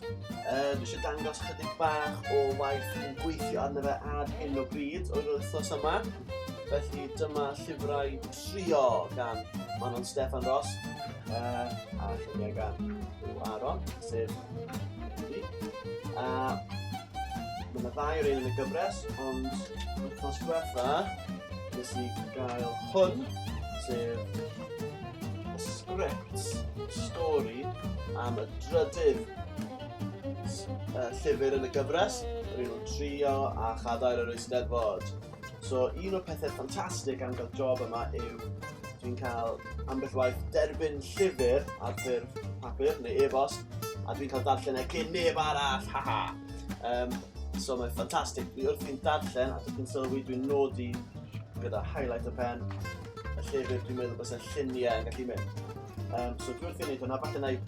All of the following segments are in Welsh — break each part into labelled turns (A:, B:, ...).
A: Um, eisiau dangos chydig bach o waith yn gweithio arno fe ar hyn o bryd o'r wythnos yma. Felly dyma llyfrau trio gan Manon Stefan Ross uh, a lluniau gan Hugh Aron, sef Andy. A mae yna ddau o'r un yn y gyfres, ond wythnos diwetha, nes i gael hwn, sef sgript, stori am y drydydd uh, llyfr yn y gyfres, yr un o'n trio a chadair yr eisteddfod. So, un o'r pethau ffantastig am gael job yma yw dwi'n cael ambell waith derbyn llyfr ar ffurf papur neu e-bost a dwi'n cael darllen e cyn neb arall, haha. Um, so mae'n ffantastig. Dwi wrth i'n darllen a dwi'n sylwi dwi'n nodi gyda highlight y pen y llyfr, dwi'n meddwl bod y lluniau yn gallu mynd. Um, so dwi wrth i wneud hwnna, falle na i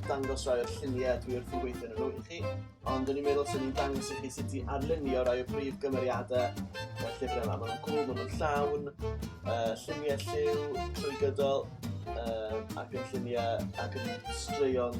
A: dangos rai o'r lluniau dwi wrth i weithio yn nhw i chi, ond dwi'n meddwl sy'n ni'n dangos i chi sut i arlunio rai o brif gymeriadau y llyfr yma. Maen nhw'n cool, maen nhw'n llawn, uh, lluniau lliw, trwy gydol, um, ac yn lluniau ac yn straeon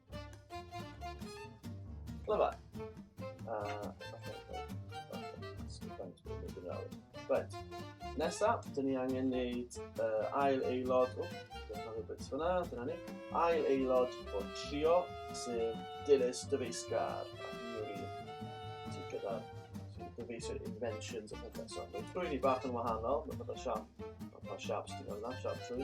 A: Lyfa. Uh, Right. Nesa, dyn ni angen neud uh, ail aelod. O, dyna rhywbeth bits fyna, dyna ni. Ail aelod o trio, sef Dilys Dyfeisgar. Sydd gyda dyfeisio inventions a pethau. So, mae trwy ni bach yn wahanol, mae pethau siap. Mae pa siaps ti'n gwneud yna, siap trwy.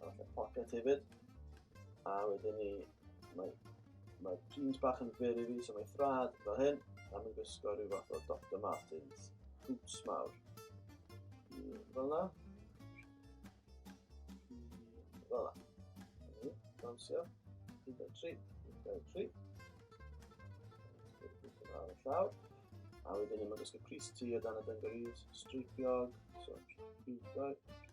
A: A falle pocket hefyd. A wedyn ni, mae, mae jeans bach yn fyr i fi, so mae thrad fel hyn. A mae'n gwisgo rhyw fath o Dr Martins. Boots mawr. Fel na. Fel na. Dawnsio. 1.3. 1.3. Ar y llaw. A wedyn ni, mae'n gwisgo Chris T o dan y dungarees. Streipiog. So, 1.3.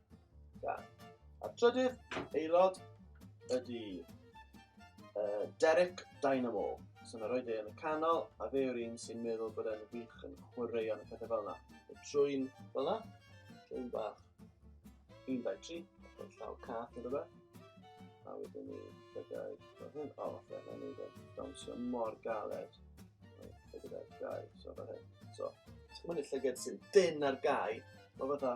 A: Da. A trydydd aelod ydy uh, Derek Dynamo. So na roed e yn y canol, a fe yw'r un sy'n meddwl bod e'n wych yn chwarae yn y pethau fel yna. Y trwy'n fel yna, trwy'n bach. 1, 2, 3, a llaw cath yn rhywbeth. A wedyn ni, byddai, fel hyn, o, fe, mae'n ei ddweud, dawnsio mor galed. Fe gyda'r gau, so fel hyn. So, ti'n mynd i'r llyged sy'n dyn ar gau, mae fatha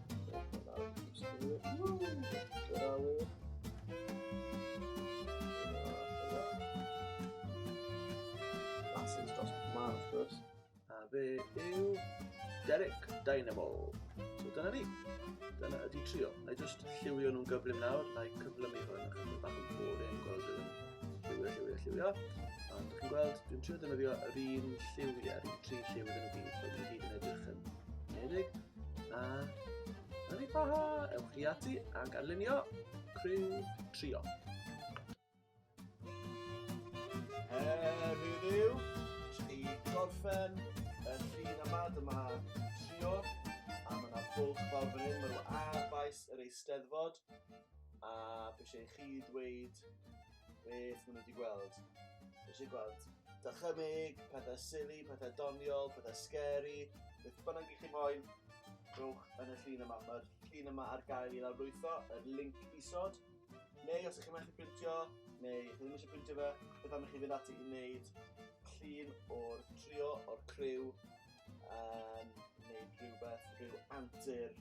A: fe yw Derek Dynamo. So dyna ni. Dyna ydi trio. Na i just lliwio nhw'n gyflym nawr, na i cyflymu hwn achos mae bach yn bod yn gweld yn lliwio, lliwio, lliwio. A dych chi'n gweld, dwi'n trio defnyddio yr un lliwiau, yr un tri lliw iddyn nhw gyd, so dwi'n gyd yn edrych yn nedig. A yn ei baha, ewch chi ati a ganlunio criw trio. Her heddiw, i gorffen y llun yma, dyma trio, a mae yna bwlch fawr fan hyn, mae nhw ar faes yr eisteddfod, a fe eisiau chi ddweud beth maen nhw wedi gweld. Eisiau gweld dychymyg, pethau silly, pethau doniol, pethau scary, beth bynnag i chi moyn, rhywch yn y llun yma. Mae'r llun yma ar gael i lawrlwytho, yr link isod. Neu os ydych chi'n methu printio, neu chi ddim eisiau printio fe, beth am i chi fynd ati i wneud llun o'r trio, o'r criw, um, neu rhywbeth, rhyw antur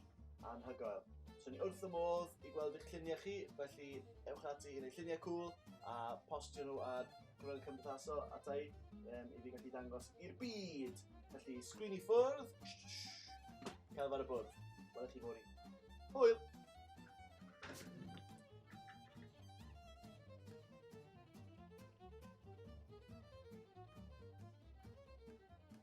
A: anhygoel. So ni wrth y modd i gweld eich lluniau chi, felly ewch ati i wneud lluniau cool a postio nhw ar gwrdd cymdeithasol atai um, i fi gallu dangos i'r byd. Felly, sgrin i ffwrdd, cael fawr y bwrdd. Wel, chi fod i. Hwyl!